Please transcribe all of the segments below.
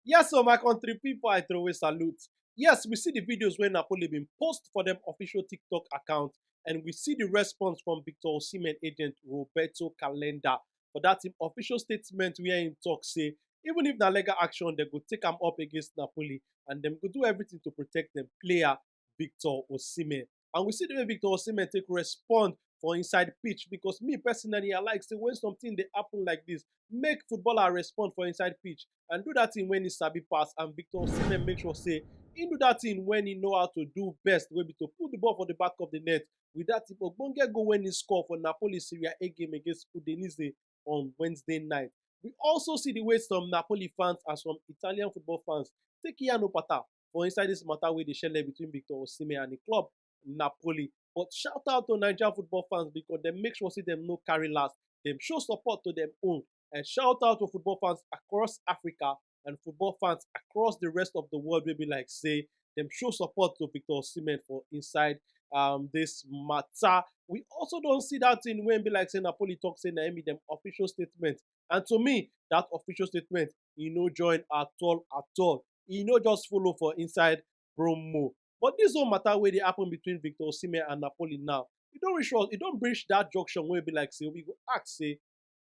Yes o my country pipu I throway salute. Yes we see the videos wey Napoli bin post for dem official TikTok account and we see the response from Victor Osimhen agent Roberto Calenda for that im official statement where im talk say even if na legal action dem go take am up against Napoli and dem go do everything to protect dem player Victor Osimhen. And we see the way Victor Osimhen take respond for inside pitch because me personally, I like say when something they happen like this, make footballer respond for inside pitch and do that thing when he sabi pass. And Victor Osimhen make sure say he do that thing when he know how to do best, wey be to put the ball for the back of the net. With that, Ogbonge go when he score for Napoli Serie A game against Udinese on Wednesday night. We also see the way some Napoli fans and some Italian football fans take Ian Opata for inside this matter wey dey shele between Victor Osimhen and the club Napoli. But shout out to Nigerian football fans because dem make sure say dem no carry last. Dem show support to dem own. And shout out to football fans across Africa and football fans across the rest of the world wey be like say dem show support to Victor Osimhen for inside um, this matter. We also don see that thing wey be like say Napoli talk say na im be dem official statement. And to me, that official statement e no join at all at all. e no just follow for inside promo. But this whole matter wey dey happen between Victor Osimhen and Napoli now, e don reach us, e don reach that junction wey be like say we go ask say,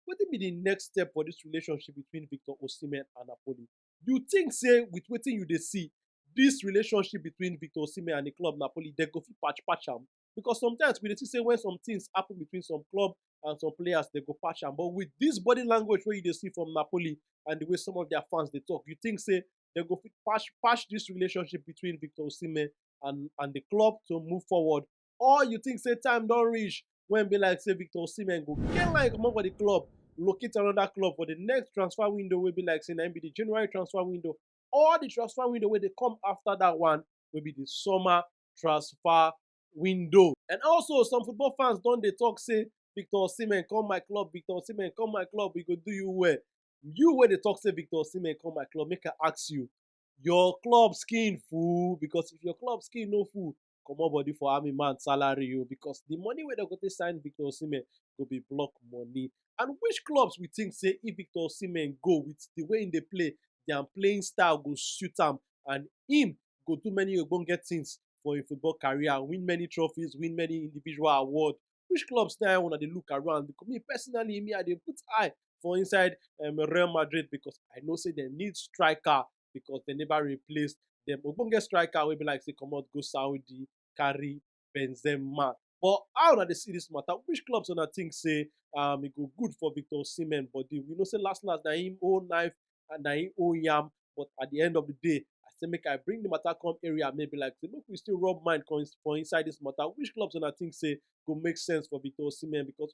wetin be the next step for this relationship between Victor Osimhen and Napoli? You think say with wetin you dey see, this relationship between Victor Osimhen and the club Napoli, they go fit patch patch am? because sometimes we dey see say when some things happen between some club and some players, they go patch am. But with this body language where you dey see from Napoli and the way some of their fans they talk, you think say they go patch patch this relationship between Victor Osimhen and and the club to move forward, or you think say time don't reach when be like say Victor Osimhen go get like come for the club, locate another club for the next transfer window will be like say na be the January transfer window or the transfer window where they come after that one will be the summer transfer window. And also, some football fans don dey talk say Victor Osimhen come my club, Victor Osimhen come my club, we go do you well. You wey dey talk say Victor Osimhen come my club, make I ask you, your club skin full? Because if your club skin no full, comot body for army man salary o because the money wey dem go take sign Victor Osimhen go be block money. And which clubs we think say if Victor Osimhen go with the way he dey play, their playing style go suit am and him go do many ogbonge things for im football career, win many trophies, win many individual award. Which clubs na una dey look around? Because me personally, me I dey put eye for inside um, Real Madrid because I know say dem need striker because dem never replace dem ogbonge striker wey be like say comot go Saudi carry Benzema. But how una dey see this matter? Which clubs una think say um, e go good for Victor Osimhen body? We know say last last na him own knife and na him own yam. But at the end of the day, I say make I bring the matter come area maybe like say make we still rub mind come ins- for inside this matter. Which clubs una think say go make sense for Victor Osimhen? Because